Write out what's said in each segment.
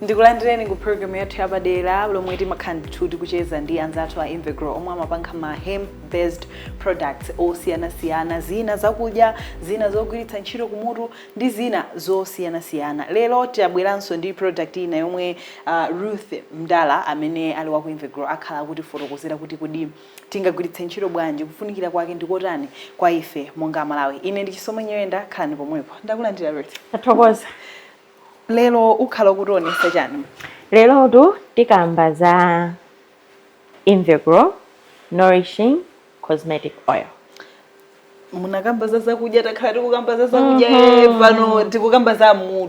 ndikulandireni ku program yathu yapadera lomwe timakhala ndithu tikucheza ndi anzathu a Invegrow omwe amapanga ma hemp based products osiyanasiyana zina zakudya zina zogwiritsa ntchito kumutu ndi zina zosiyanasiyana. Lero tabweranso ndi product ina yomwe a Ruth Mdala amene ali wa ku Invegrow akhala akutifotokozera kuti kodi tingagwiritse ntchito bwanji, kufunikira kwake ndi kotani kwa ife monga Amalawi. Ine ndi Chisomo Nyirenda, khalani pomwepo. Ndakulandira Ruth. Tathokoza. Lero ukhala ukutionesa chani? Lerotu tikamba za. Invegrow Nourishing Cosmetic Oil. munakamba za zakudya takhala tikukamba za zakudya mm -hmm.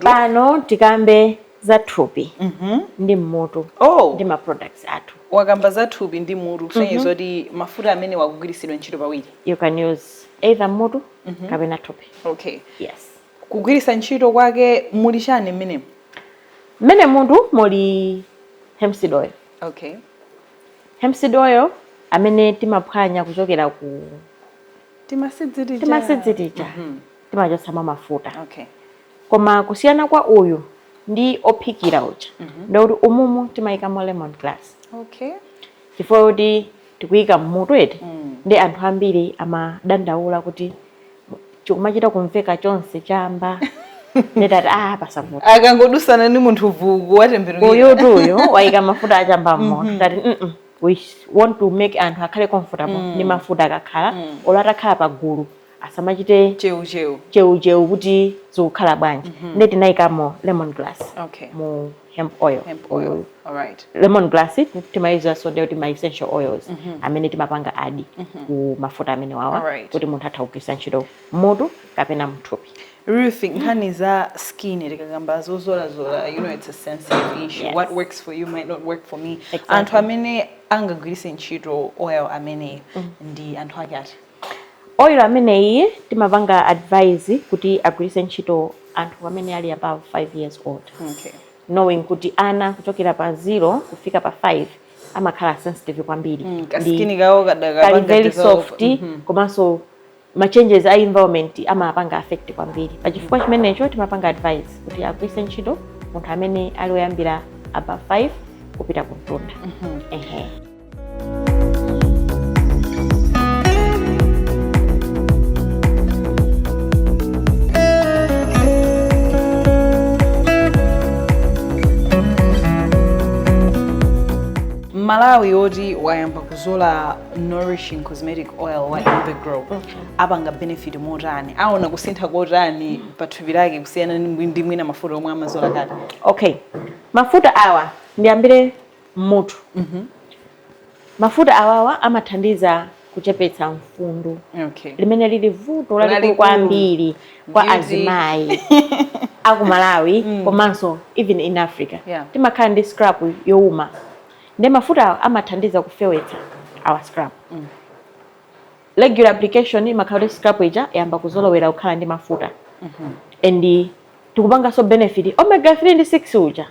pano tikambe za thupi mm -hmm. ndi mmutu oh. ndi ma products athu wakamba za thupi ndi mutu kusonyeza mm -hmm. kuti mafuta amenewa akugwiritsidwa ntchito pawiri you can use either mutu mm -hmm. kapena thupi okay yes kugwiritsa ntchito kwake muli chani mmenemu mmenemutu muli hemp seed oil Okay. Hemp seed oil amene timaphwanya kuchokera ku timaseeds tija timachotsamo mafuta Okay. koma kusiyana kwa uyu ndi ophikira uja ndikuti umumu timayikamo lemon grass Okay. chifukwa kuti tikuyika mmutu eti ndi anthu ambiri amadandaula kuti chikumachita kumveka chonse chamba nde tati ah, pasavuta akangodutsana ni munthu vuku watembenuka uyutu uyu waika mafuta achamba mmutu mm-hmm. tati mm -mm. we want to make anthu akhale comfortable mm. ni mafuta akakhala mm. olo atakhala pagulu asamachite cheucheu cheucheu kuti zikukhala bwanji mm -hmm. nde tinaikamo lemon grass okay. mu hemp oil mm. all right lemon grass timayidziwanso ndi ma essential oils mm -hmm. amene timapanga add mm -hmm. ku mafuta amenewawa right. kuti munthu atha kugwiritsa ntchito mmutu kapena mthupi Ruth, nkhani za skin tikakamba zodzoladzola you know it's a sensitive issue yes. what works for you might not work for me exactly. anthu amene angagwiritse ntchito oil ameneyu mm. ndi anthu ake ati Oil ameneyi timapanga advise kuti agwiritse ntchito anthu amene ali above 5 years old knowing kuti ana kuchokera pa 0 kufika pa 5 amakhala sensitive kwambiri skin imakhala very soft mm -hmm. komanso ma changes a environment amapanga affect kwambiri pachifukwa chimenecho timapanga advise kuti agwiritse ntchito munthu amene ali woyambira above 5 kupita kumtunda mm -hmm. Mmalawi woti wayamba kuzola nourishing cosmetic oil wa Invegrow apanga benefit motani aona kusintha kotani pa thupi lake kusiyana ndi ndi mwina mafuta omwe amazola kale okay mafuta awa ndiyambire m'mutu. Mafuta awawa amathandiza kuchepetsa mfundu okay. limene lili vuto lalikulu kwambiri kwa azimayi a ku Malawi mm. komanso even in Africa yeah. timakhala ndi scalp youma ndiye mafutawa amathandiza kufewetsa our scalp mm. regular application imakhala kuti scalp ija yayamba kuzolowera kukhala ndi mafuta mm -hmm. and tikupanganso benefit omega 3 ndi 6 uja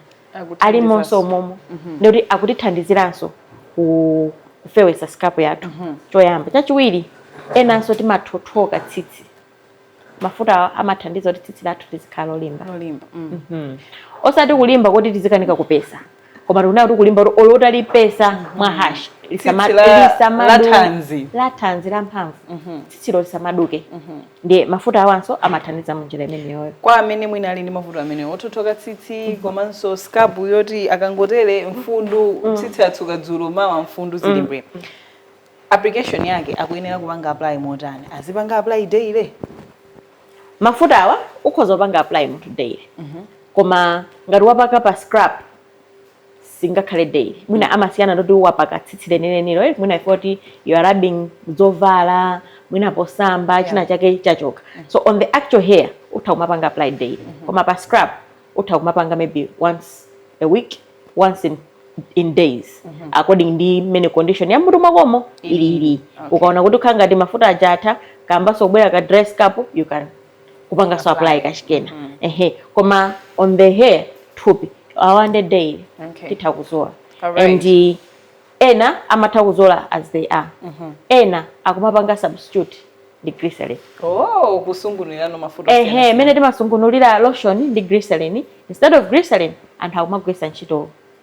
alimonso momo mhm. ndikuti akutithandiziranso kufewesa scalp yathu mhm. choyamba chachiwiri enanso timathothoka tsitsi mafuta amathandiza kuti tsitsi lathu lizikhala lolimba mm. mhm. osati kulimba kuti tizikanika kupesa koma tikunena kuti kulimba kuti olo utalipesa mwa harsh lathanzi la mphamvu tsitsilo lisamaduke ndiye mafuta awanso amathandiza munjira imeneyoyo kwa amene mwina ali ndi mavuto amenewo othothoka tsitsi mm -hmm. komanso scalp yoti akangotere mfundu mm -hmm. tsitsi atsuka dzulo mawa mfundu zili mbwee mm -hmm. application yake akuyenera kupanga apply motani azipanga apply daily mafuta awa ukhoza kupanga apply munthu daily mm -hmm. koma ngati wapaka pa scalp singakhale daily mwina mm. amasiyana ndi poti wapaka tsitsi lenilenilo eh, mwina chifukwa choti you are rubbing zovala mwina posamba yeah. china chake chachoka mm. so on the actual hair utha kumapanga apply daily mm -hmm. koma pa scalp utha kumapanga maybe once a week once in in days mm -hmm. according ndi mmene condition ya m'mutu mwakomo ilili okay. ukaona kuti ukhala ngati mafuta aja atha kayambanso kubwera ka dry scalp utha kupanganso apply kachikena mm. ehe koma on the hair thupi one day daily okay. titha kuzola right. and uh, ena amatha kuzola as they are mm -hmm. ena akumapanga substitute ndi glycerin oh kusungunulira mafuta ehe mmene timasungunulira lotion ndi glycerin instead of glycerin anthu akumagwesa ntchito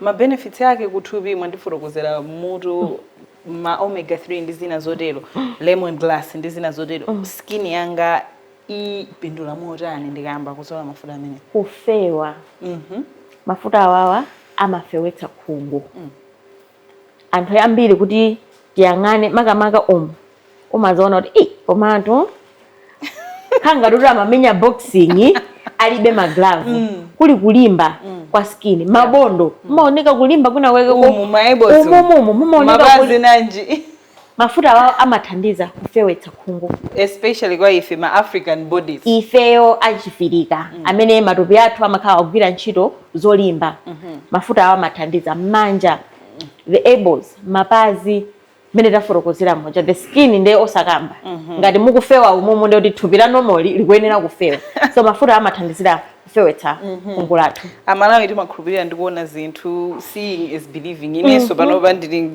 ma benefits ake kuthupi mwandifotokozera m'mutu ma omega 3 ndi zina zotero lemongrass ndi zina zotero skin yanga ipindula motani ndikayamba kuzola mafuta amenewa kufewa mafuta awawa amafewetsa khungu anthu ambiri kuti tiyang'ane makamaka umu umaziona kuti ei komatu khanga kuti amamenya boxing alibe maglavu mm. kuli kulimba mm. kwa skin mabondo mm. mumaoneka kulimba kwina kweke umumumu mumaoneka mafuta awa amathandiza kufewetsa khungu especially kwa ife ma african bodies ifeyo achifirika mm. amene matupi athu amakhala ogwira ntchito zolimba mm -hmm. mafuta awa amathandiza mmanja the elbows mapazi mmene tafotokozera moja the skin nde osakamba mm -hmm. ngati mukufewa umumu nde kuti thupi la normal likuyenera kufewa so mafutawa amathandizira kufewetsa mm -hmm. khungu lathu amalawi timakhulupirira ndikuona zinthu seeing is believing inenso mm -hmm. panopa ndili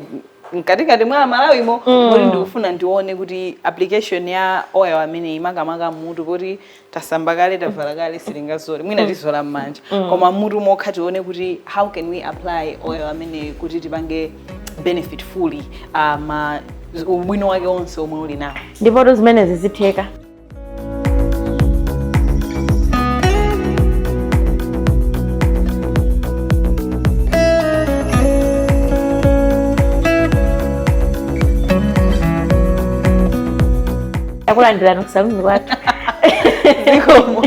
mkatikati mwa amalawimo Mm. kuti ndikufuna ndione kuti application ya oil ameneyi makamaka mmutu poti tasamba kale tavala kale sitingazole mwina tizola m'manja koma mmutu mokha tione kuti how can we apply oil ameneyi kuti tipange benefit fully uh, ma ubwino wake onse omwe uli nawo ndipotu zimenezi zitheka takulandirani kusaluni kwathu zikomo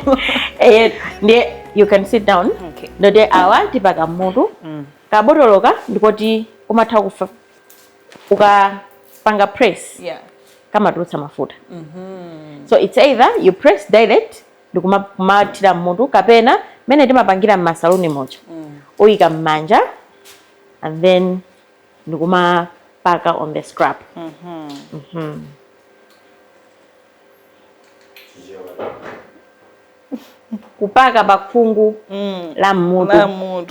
eh ndiye you can sit down okay ndoti awa tipaka mmutu mm. kabotoloka ndikoti umatha kufa ukapanga press yeah. kamatulutsa mafuta mm -hmm. so it's either you press direct ndikumathira mmutu kapena mmene timapangira mmasaluni moja mm. uyika mmanja and then ndikumapaka on the scalp mm -hmm. mm -hmm. kupaka pakhungu mm. la mmutu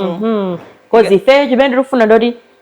mm -hmm. cause ifeyo chimene tikufuna ndoti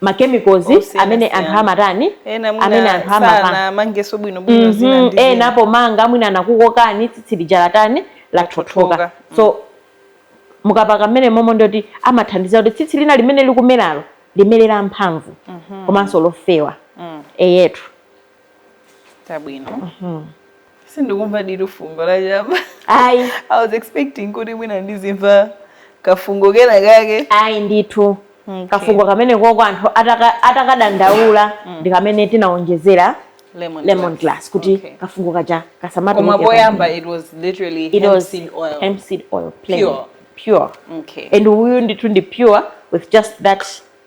ma chemicals amene anthu amatani amene anthu amapanga mangesi bwino bwino mm -hmm. zina ndi eh napo pomanga mwina anakukokani tsitsi lija latani lathothoka so mm. mukapaka mmene momo ndoti amathandiza kuti tsitsi lina limene likumeralo limerere mphamvu mm -hmm. komanso lofewa mm. eyetu tabwino mhm. sindikumva ditu fungo la chamba ayi i was expecting kuti mwina ndizimva kafungo kena kake ayi ndithu okay. kafungo kamene koko anthu atakadandaula ataka mm. ndi kamene tinaonjezera lemon, lemon grass kuti okay. kafungo kaja kasama koma poyamba it was literally it hemp was seed oil hemp seed oil plain pure pure okay and uyu ndithu ndi pure with just that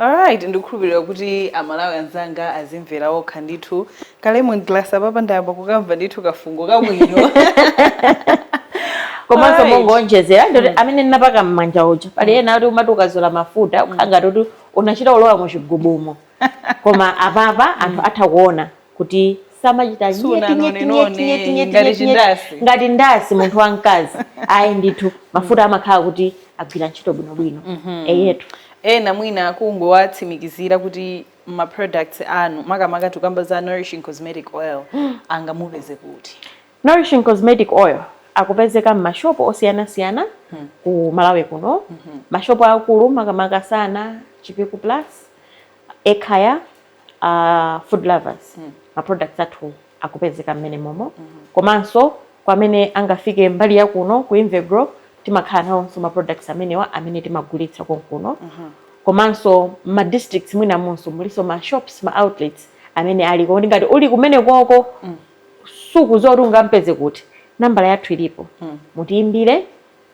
Alright, ndikukhulupirira kuti amalawi anzanga azimvera okha ndithu ka lemon grass apapa ndayamba kukamva ndithu kafungo kabwino komanso mongoonjezera ndoti amene ndinapaka m'manja uja pali ena oti umati ukazola mafuta ukhala ngati kuti unachita kulowa mu chigubumo koma apapa anthu atha kuona kuti samachita ngati ndasiya munthu wamkazi ayi ndithu mafuta amakhala kuti agwira ntchito bwinobwino mhm. eyetu ena mwina kungowatsimikizira kuti ma products anu makamaka tukamba za nourishing cosmetic oil mm. angamupeze kuti nourishing cosmetic oil akupezeka m'mashopu osiyanasiyana hmm. ku Malawi kuno hmm. mashopu akulu makamaka Sana Chipiku Plus Ekhaya uh, Food Lovers mm. ma products athu akupezeka m'menemomo mm -hmm. komanso kwa amene angafike mbali ya kuno ku Invegrow timakhala nawonso ma products amenewa amene timagulitsa konkuno mm -hmm. komanso ma districts mwina monse mulinso ma shops ma outlets amene aliko kuti ngati uli kumenekoko mm. sukudziwa zoti ungampeze kuti nambala yathu ilipo mm. mutiimbire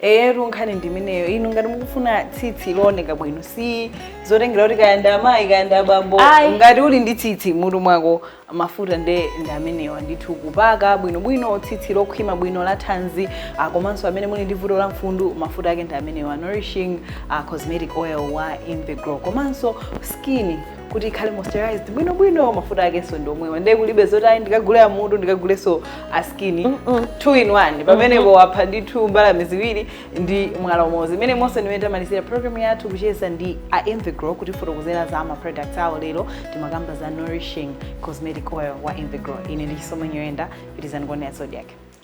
eyetu nkhani ndimeneyo inu ngati mukufuna tsitsi looneka bwino si zotengera kuti kaya nda amayi kaya nda abambo Ayi. ngati uli ndi tsitsi mmutu mwako mafuta nde ndi amenewa ndithu kupaka bwinobwino tsitsi lokhwima bwino la thanzi ah, komanso amene muli ndi vuto la mfundu mafuta ake ndi amenewa nourishing ah, cosmetic oil wa Invegrow komanso skin kuti ikhale moisturized bwino bwino mafuta akenso ndi omwewa ndiye kulibe zoti ayi ndikagule amutu ndikagulenso a skin mm -mm. two in one pamenepo mm -hmm. wapha ndithu mbalame ziwiri ndi mwala umodzi mmenemonso ndi mmene tamalizira program yathu kucheza ndi a Invegrow kutifotokozera za ma products awo lero timakamba za nourishing cosmetic oil wa Invegrow ine ndi Chisomo Nyoyenda pitirizani kuonera Zodiak